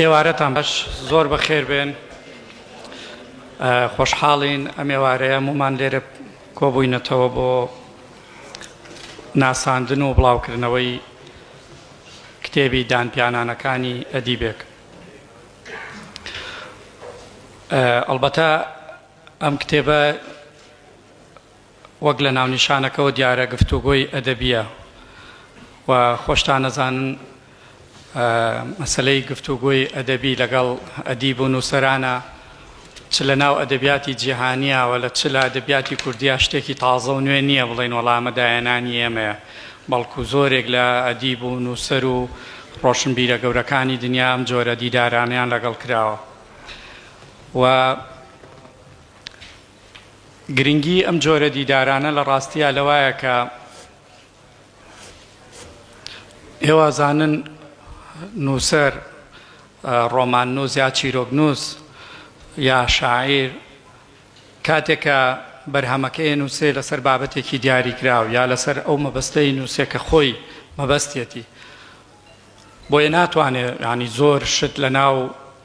ئێوارەتان بەش زۆر بەخێر بێن خۆشحاڵین ئەم ئێوارەیە مومان لێرە کۆبووینەتەوە بۆ ناساندن و بڵاوکردنەوەی کتێبی دانپیانانەکانی ئەدیبێک ئەلبەتە ئەم کتێبە وەک لە ناونیشانەکەوە دیارە گفتوگۆی ئەدەبییە و خۆشتان ئەزانن مەسەلەی گفتوگۆی ئەدەبی لەگەڵ ئەدیب و نووسەرانە چ لە ناو ئەدەبیاتی جیهانییاوە لە چ لە ئەدەبیاتی کوردیا شتێکی تازە و نوێ نییە بڵێن وەڵامە دایەنانی ئێمەیە بەڵکو زۆرێک لە ئەدیب و نووسەر و ڕۆشنبیرە گەورەکانی دنیا ئەم جۆرە دیدارانیان لەگەڵ کراوە و گرنگی ئەم جۆرە دیدارانە لە ڕاستیا لەوایە کە ئێوازانن نووسەر، ڕۆماننووس یا چیرۆکنووس یا شاعیر کاتێک کە بەرهەمەکەی ئەنووسێ لەسەر بابەتێکی دیاریکراو یا لەسەر ئەو مەبەستەی ئەنووسێ کە خۆی مەبەستیەتی بۆیە ناتوانێ یانی زۆر شت لە ناو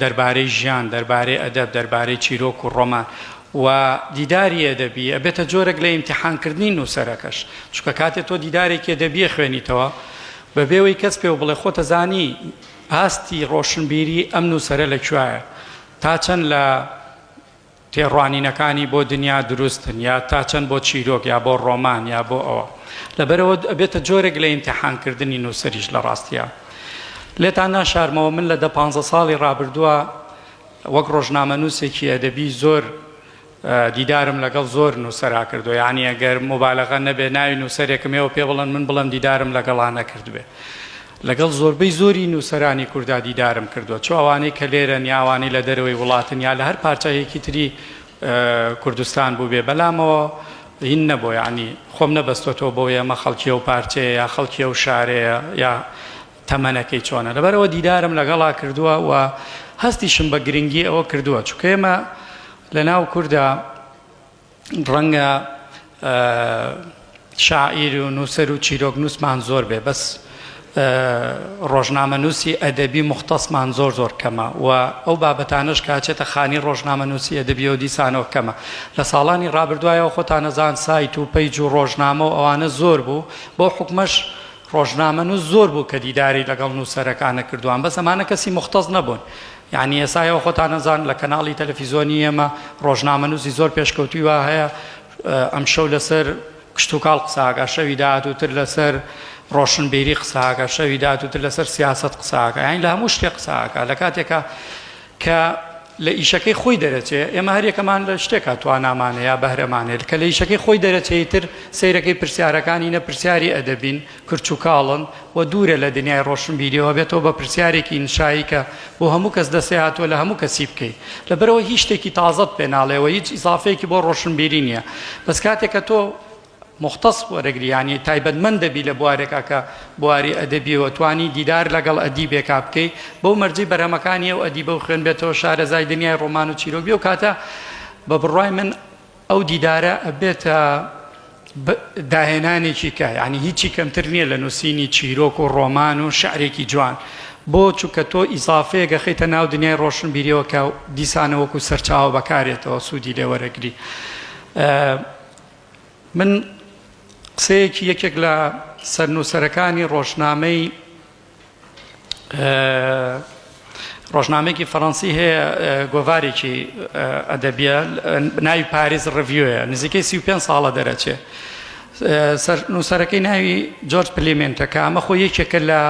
دەربارەی ژیان، دەربارەی ئەدەب، دەربارەی چیرۆک و ڕۆمان و دیداری ئەدەبی، ئەبێتە جۆرەک لە ئیمتیحانکردنی نووسەرەکەش، چونکە کاتێ تۆ دیدارێکی ئەدەبی ئەخوێنیتەوە، بەبێ ئەوەی کەس پێو بڵێ خۆت ئەزانی ئاستی ڕۆشنبیری ئەم نووسەرە لە کوێایە، تا چەند لە. تێڕوانینەکانی بۆ دنیا دروستن یا تا چەند بۆ چیرۆک یا بۆ ڕۆمان یا بۆ ئەوە لەبەرەوە ئەبێتە جۆرێک لە ئیمتیحانکردنی نووسەریش لە ڕاستیە لێتان ناشارمەوە من لە دە پانزە ساڵی ڕابردووە وەک ڕۆژنامەنووسێکی ئەدەبی زۆر دیدارم لەگەڵ زۆر نووسەرا کردو یعنی ئەگەر مبالغە نەبێ ناوی نووسەرێکم ێەوە پێ بڵن من بڵم دیدارم لەگەڵا نەکردبێ لەگەڵ زۆربەی زۆری نووسەرانی کوردا دیدارم کردووە، چ ئەوانەی کە لێرەن یا ئەوانەی لە دەرەوەی وڵاتن یا لە هەر پارچایەکی تری کوردستان بووبێ، بەلامەوە هین نەبووە، یانی خۆم نەبەستۆتەوە بەوەی ئەمە خەڵکی ئەو پارچەیە یا خەڵکی ئەو شارەیە یا تەمەنەکەی چۆنە، لەبەرئەوە دیدارم لەگەڵا کردووە و هەستیشم بە گرنگی ئەوە کردووە، چونکە ئێمە لەناو کوردا، ڕەنگە شاعیر و نووسەر و چیرۆکنووسمان زۆر بێ بەس ڕۆژنامەنووسی ئەدەبی مختصمان زۆر زۆر کەمە و ئەو بابەتانەش کاچێتە خانی ڕۆژنامەنووسی ئەدەبی و دیسانەوە کەمە لە ساڵانی ڕابردوایەوە خۆتانەزان سایت و پەیج و ڕۆژنامە و ئەوانە زۆر بوو بۆ حکومەش ڕۆژنامە نووس زۆر بوو کە دیداری لەگەڵ نووسەرەکانە کردووان بەس ئەمانە کەسی مختص نەبوون یانی ئێسا ئێوە خۆتان ئەزان لە کەناڵی تەلەفیزۆنی ئێمە ڕۆژنامەنووسی زۆر پێشکەوتووی وا هەیە ئەمشەو لەسەر کشتوکاڵ قسە ئاکا شەوی داهاتووتر لەسەر ڕۆشنبیری قسە ئاکا شەوی داهاتووتر لەسەر سیاسەت قسە ئاکا یانی لە هەموو شتێ قسە ئاکا لە کاتێکا کە لە ئیشەکەی خۆی دەرەچێ ئێمە هەر یەکەمان لە شتێکا توانامان هەیە بەهرەمان هەیە کە لە ئیشەکەی خۆی دەرەچێ ئیتر سەیرەکەی پرسیارەکانی نە پرسیاری ئەدەبین کرچ و کاڵن و دوورە لە دنیای ڕۆشنبیری و ئەبێتەوە بە پرسیارێکی ئینشایی کە بۆ هەموو کەس دەسێ هاتووە لە هەموو کەسی بکەی لەبەرەوەی هیچ شتێکی تازەت پێ ناڵێ و هیچ ئیزافەیەکی بۆ ڕۆشنبیری نییە بەس کاتێ کە تۆ موختەس وەرەگری یانی تایبەتمەند دەبی لە بوارێکا کە بواری ئەدەبی و توانی دیدار لەگەڵ ئەدیبێکا بکەی بەو مەرجەی بەرهەمەکانی ئەو ئەدیبە و خوێن بێتەوە شارەزای دنیای ڕۆمان و چیرۆک بی ئەو کاتە بە بڕوای من ئەو دیدارە ئەبێتە داهێنانێکی کە یانی هیچی کەمتر نییە لە نووسینی چیرۆک و ڕۆمان و شعرێکی جوان بۆ چووکە تۆ ئیزافەیەک ئەخەیتە ناو دنیای ڕۆشنبیریەوە کە دیسانە وەکو سەرچاوە بەکارێتەوە سوودی لێ وەرەگری من قسەیەکی یەکێک لە سەرنووسەرەکانی ڕۆژنامەی ڕۆژنامەیەکی فەڕەنسی هەیە گۆڤارێکی ئەدەبیە ناوی پاریس ڕڤیوە نزیکەی سی پێ ساڵە دەرەچێ نووسەرەکەی ناوی جۆرج پلیمنتە کە ئەمە خۆ یەکێکە لە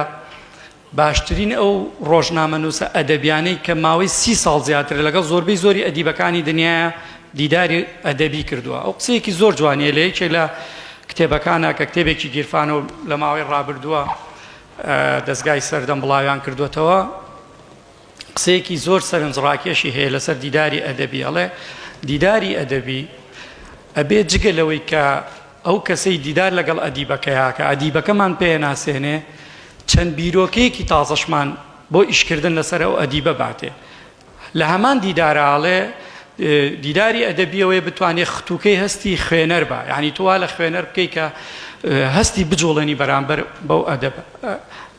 باشترین ئەو ڕۆژنامە نووسە ئەدەبیانەی کە ماوەی سی ساڵ زیاتر لەگەڵ زۆربەی زۆری ئەدیبەکانی دنیا دیداری ئەدەبی کردووە ئەو قسەیەکی زۆر جوانیە لە یەکێک لە کتێبەکانە کە کتێبێکی گیرفان و لە ماوەی ڕابردووە دەزگای سەردەم بڵاویان کردووەتەوە قسەیەکی زۆر سەرنج ڕاکێشی هەیە لەسەر دیداری ئەدەبی ئەڵێ دیداری ئەدەبی ئەبێ جگە لەوەی کە ئەو کەسەی دیدار لەگەڵ ئەدیبەکەیاکە ئەدیبەکەمان پێ ناسێنێ چەند بیرۆکەیەکی تازەشمان بۆ ئیشکردن لەسەر ئەو ئەدیبە باتێ لە هەمان دیدارا ئەڵێ دیداری ئەدەبی ئەوەیە بتوانێ ختوکەی هەستی خوێنەر با یعنی تۆ وا لە خوێنەر بکەی کە هەستی بجوڵێنی بەرامبەر بەو ئەدەب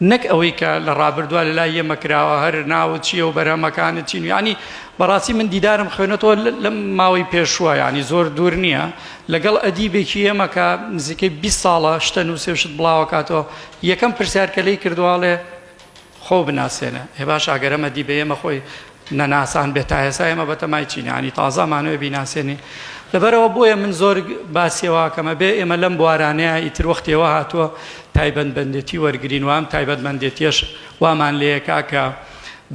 نەک ئەوەی کە لە ڕابردووە لە لای ئێمە کراوە هەر ناوت چییە و بەرهەمەکانت چین ینی بەڕاستی من دیدارم خوێنەتەوە لەم ماوەی پێشووە ینی زۆر دوور نییە لەگەڵ ئەدیبێکی ئێمەکە نزیکەی 20 ساڵە شتە نووسێشت بڵاوکاتەوە یەکەم پرسیارکە لی کردوواڵێ خۆو بناسێنە ئێ باش ئەگەر ئەمە دی بە ئێمە خۆی نەناسان بێ تا ئێسا ئێمە بەتەمای چین یانی تازە ئەمانەوێ بیناسێنی لەبەرەوە بۆیە من زۆر باسیەوەکەمە بێ ئێمە لەم بوارانەیە ئیتر وەختێەوە هاتووە تایبەتبندێتی وەرگین وام تایبەتمەندێتیش وامان لەیەکا کە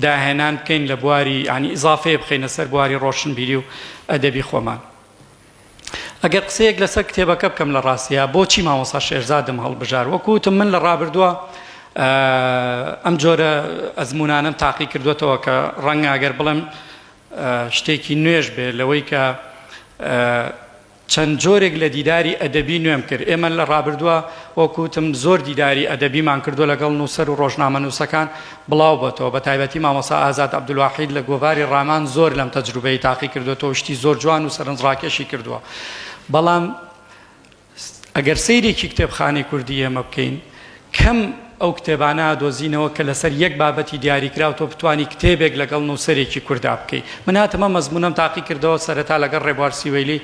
داهێنان بکەین لە بواری ینی ئیزافەیە بخینە سەر بواری ڕۆشنبیری و ئەدەبی خۆمان ئەگەر قسەیەک لەسەر کتێبەکە بکەم لە ڕاستیا بۆچی مامۆسا شێرزادم هەڵبژار وەکو وتم من لە ڕابردووە ئەم جۆرە ئەزمونانم تاقی کردوێتەوە کە ڕەنگە ئەگەر بڵێم شتێکی نوێژ بێ لەوەی کە چەند جۆرێک لە دیداری ئەدەبی نوێم کرد ئێمە لە ڕابردووە وەکوتم زۆر دیداری ئەدەبیمان کردو لەگەڵ نووسەر و ڕۆژنامە نووسەکان بڵاو بۆتەوە بەتایبەتی مامۆسا ئازاد عبدالواحید لە گۆڤاری ڕامان زۆر لەم تەجروبەی تاقی کردۆتەوە شتی زۆر جوان و سەرنج ڕاکێشی کردوە بەڵام ئەگەر سەیرێکی کتێبخانەی کوردی ئێمە بکەین کەم ئەو کتێبانە دۆزینەوە کە لەسەر یەک بابەتی دیاریکراو تۆ بتانی کتێبێک لەگەڵ نووسەرێکی کوردا بکەی من هاتمە مەزمونەم تاقی کردەوە سەرەتا لەگەڵ ڕێبوار سیوەیلی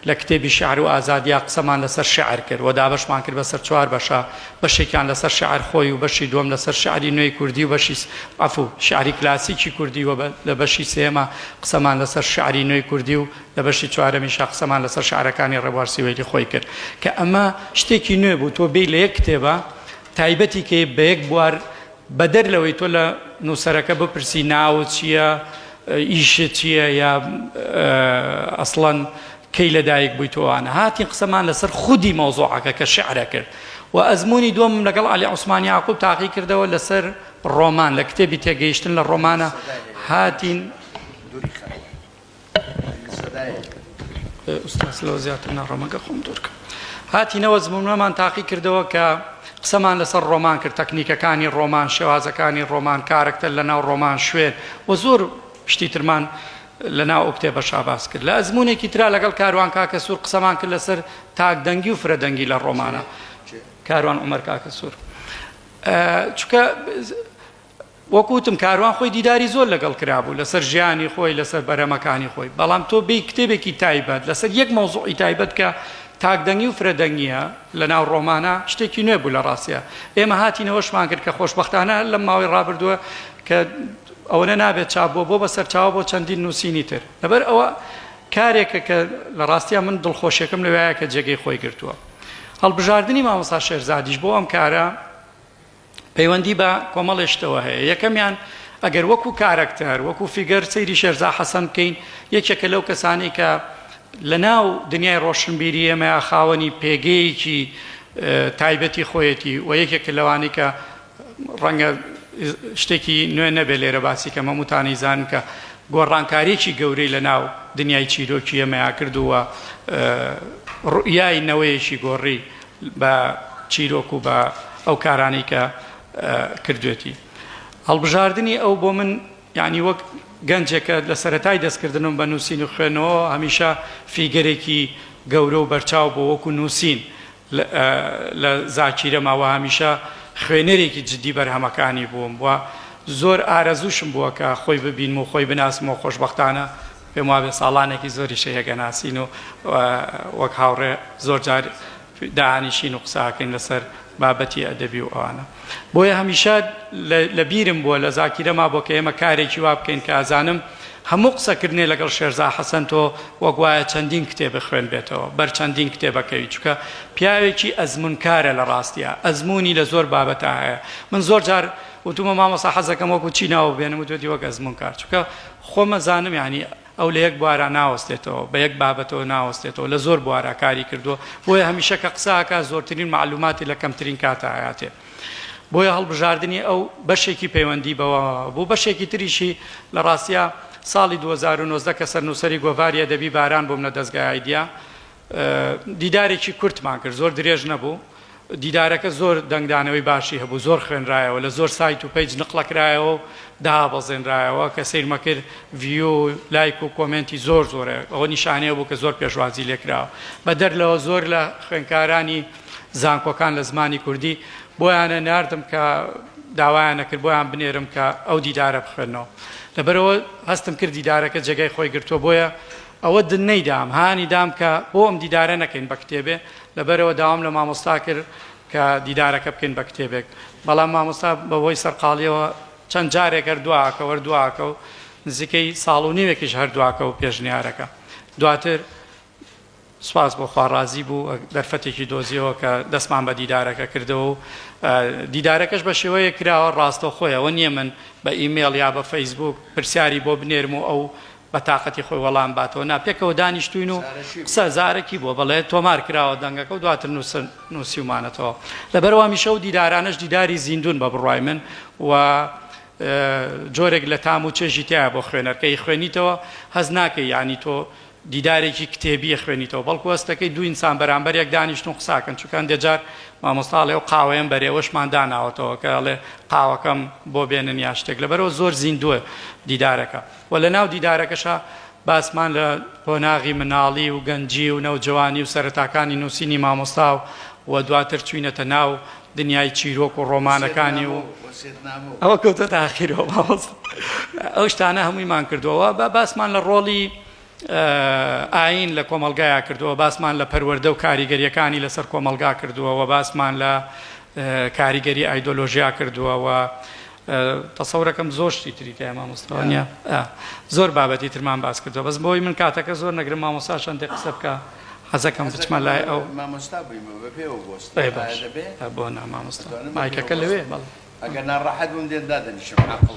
لە کتێبی شعر و ئازادیا قسەمان لەسەر شعر کرد و دابەشمان کرد بەسەر چوار بەشە بەشێکیان لەسەر شێعر خۆی و بەشی دووەم لەسەر شێعری نوێی کوردی و بەشی سێ، عەفوو، شێعری کلاسیکی کوردی و لە بەشی سێیەما قسەمان لەسەر شێعری نوێی کوردی و لە بەشی چوارەمیشا قسەمان لەسەر شێعرەکانی ڕێبوار سیوەیلی خۆی کرد کە ئەمە شتێکی نوێ بوو تۆ بێی لە یەک کتێبا تایبەتی کەی بە یەک بوار بەدەر لەوەی تۆ لە نووسەرەکە بپرسی ناوت چییە، ئیشت چییە یا ئەسڵەن کەی لەدایک بوویت و ئەوانە، هاتین قسەمان لەسەر خودی مەوزوعەکە کە شیعرە کرد و ئەزموونی دووەمم لەگەڵ عەلی عوسمان یاقووب تاقی کردەوە لەسەر ڕۆمان لە کتێبی تێگەیشتن لە ڕۆمانە هاتین هاتینەوە زمنەمان تاقی کردەوە کە قسەمان لەسەر ڕۆمان کرد تەکنیکەکانی ڕۆمان شێوازەکانی ڕۆمان کارەکتەر لە ناو ڕۆمان شوێن و زۆر شتی ترمان لە ناو ئەو کتێبە شاباس کرد لە ئەزمونێکی تررا لەگەڵ کاروان کاکە سوور قسەمان کرد لەسەر تاک دەنگی و فرە دەنگی لە ڕۆمانە کاروان عمر کاکە سوور چکە وەکو وتم کاروان خۆی دیداری زۆر لەگەڵ کرابوو لەسەر ژیانی خۆی لەسەر بەرەمەکانی خۆی بەڵام تۆ بێی کتێبێکی تایبەت لەسەر یەک مەوزوعی تایبەت کە تاکدەنگی و فرەدەنگیە لەناو ڕۆمانە شتێکی نوێ بوو لە ڕاستە ئێمە هاتینەوەشمان کرد کە خۆشببختانە لەم ماوەی ڕابردووە کە ئەوەنە نابێت چابووە بۆ بە سەرچاو بۆ چەندین نووسینی تر لەبەر ئەوە کارێکە کە لە ڕاستە من دڵخۆشیەکەم لەوایە کە جێگەی خۆی گرتووە هەڵبژاردننی مامۆسا شێرزادیش بۆ ئەم کارە پەیوەندی بە کۆمەڵێ شتەوە هەیە، یەکەمیان ئەگەر وەکو کارەکتەر، وەکو فیگەر سەیری شێرزا حەسەن بکەین، یەکێکە لەو کەسانەی کە لە ناو دنیای ڕۆشنبیری ئێمەیا خاوەنی پێگەیەکی تایبەتی خۆیەتی و یەکێکە لەوانەی کە ڕەنگە شتێکی نوێ نەبێ لێرە باسی کەم هەمووتان ئیزانن کە گۆڕانکاریی گەورەی لە ناو دنیای چیرۆکی ئێمەیا کرد و ڕوئیای نەوەیەکی گۆڕی. بە چیرۆک و بە ئەو کارانەی کە کردوێتی هەڵبژاردنی ئەو بۆ من یعنی وەک گەنجێک کە لە سەرەتای دەستکردنم بە نووسین و خوێنەوە هەمیشە فیگەرێکی گەورە و بەرچاو بۆ وەکو نووسین لە زاکیرە ماوە هەمیشە خوێنەرێکی جدی بەرهەمەکانی بووم و زۆر ئارەزوشم بووە کە خۆی ببینم و خۆی بناسم و خۆشبەختانە پێم وابێ ساڵانێکی زۆریشە یەکئەناسین و وەک هاوڕێ زۆر جار دانیشین و قساکەین لەسەر بابەتی ئەدەبی و ئەوانە بۆیە هەمیشە لە بیرم بووە لە زاکیرەما بۆ کە ئێمە کارێکی وا بکەین کە ئازانم هەموو قسەکردنێ لەگەڵ شێرزا حەسەن تۆ وەگوایە چەندین کتێ بخوێن بێتەوە بەر چەندین کتێبەکەوی چکە پیاوێکی ئەزمونکارە لە ڕاستە ئەزمموی لە زۆر بابەتە هەیە من زۆر جار وتومە مامەسا حەزەکەم وەکو چی ناوە بێنم و دوێتی وەک ئەزمون کار چکە خۆم ئەزانم یانی ئەو لە یەک بوارا ناوەستێتەوە بە یەک بابەتەوە ناوەستێتەوە لە زۆر بوارا کاری کردووە بۆیە هەمیشە کە قسە ئەکات زۆرترین مەعلوماتی لە کەمترین کاتا ئەیاتێ بۆیە هەڵبژاردنی ئەو بەشێکی پەیوەندی بەوە بوو بەشێکی تریشی لە ڕاستیا ساڵی دوو هەزار و نۆزدە کە سەرنووسەری گۆڤاری ئەدەبی باران بووم لە دەزگای ئایدیا دیدارێکی کورتمان کرد زۆر درێژ نەبوو دیدارەکە زۆر دەنگدانەوەی باشی هەبوو زۆر خوێنرایەوە لە زۆر سایت و پەیج نقلەکرایەوە و دابەزێنرایەوە کە سەیرمە کرد ڤیو و لایک و کۆمێنتی زۆر زۆرە ئەوە نیشانەیە بوو کە زۆر پێشوازی لێکراوە بە دەر لەوە زۆر لە خوێنکارانی زانکۆکان لە زمانی کوردی بۆیانە ناردم کە داوایان نەکرد بۆیان بنێرم کە ئەو دیدارە بخوێنەوە لەبەرەوە هەستم کرد دیدارەکە جێگای خۆی گرتووە بۆیە ئەوە دن نەیدام هانی دام کە بۆ ئەم دیدارە نەکەین بە کتێبێ لەبەرئەوە داوام لە مامۆستا کرد کە دیدارەکە بکەین بە کتێبێک بەڵام مامۆستا بە هۆی سەرقاڵیەوە چەند جارێک هەر دواکەو هەر دواکەو نزیکەی ساڵ و نیوێکیش هەر دواکەو پێشنیارەکە دواتر سپاس بۆ خوا ڕازی بوو دەرفەتێکی دۆزیەوە کە دەستمان بە دیدارەکە کردەوە و دیدارەکەش بە شێوەیە کراوە ڕاستەوخۆیەوە نییە من بە ئیمێڵ یا بە فەیسبوک پرسیاری بۆ بنێرم و ئەو بە تاقەتی خۆی وەڵام باتەوە نا، پێکەوە دانیشتووین و قسە زارەکی بووە، بەڵێ تۆمار کراوە دەنگەکە و دواتر نووسن نووسیومانەتەوە، لەبەرئەوە هەمیشە ئەو دیدارانەش دیداری زیندوون بە بڕوای من و جۆرێک لە تام و چێژی تیایە بۆ خوێنەر، کە ئیخوێنیتەوە هەست ناکەی یانی تۆ دیدارێکی کتێبی ئەخوێنیتەوە، بەڵکو هەست دەکەی دوو ئینسان بەرامبەر یەک دانیشتوون قسە ئەکەن، چونکە هەندێ جار مامۆستا ئەڵێ ئەو قاوەیەم بەرێوەشمان داناوەتەوە، کە ئەڵێ قاوەکەم بۆ بێنن یا شتێک، لەبەرئەوە زۆر زیندووە دیدارەکە. وە لە ناو دیدارەکەشا باسمان لە قۆناغی مناڵی و گەنجی و نەوجەوانی و سەرەتاکانی نووسینی مامۆستا و وە دواتر چووینەتە ناو دنیای چیرۆک و ڕۆمانەکانی و ئەوە کەوتۆتە ئاخیرەوە مامۆستا ئەو شتانە هەموویمان کردووە وە با باسمان لە ڕۆڵی ئاین لە کۆمەڵگایا کردووە باسمان لە پەروەردە و کاریگەریەکانی لەسەر کۆمەڵگا کردووە وە باسمان لە کاریگەری ئایدۆلۆژیا کردووە وە تەسەورەکەم زۆر شتی تری تایە مامۆستا وانیە ئا زۆر بابەتی ترمان باس کردوە بەس بۆی من کاتەکە زۆر نەگرم مامۆستا چەندێ قسە بکە حەزەکەم بچمە لای ئەو مامۆستا بوویمە بە پێوە بۆست ئەی باش بۆ نا مامۆستا مایکەکە لەوێ بەڵێ ئەگەر ناڕەحەت بووم دێن دادەنیشم عاقڵە.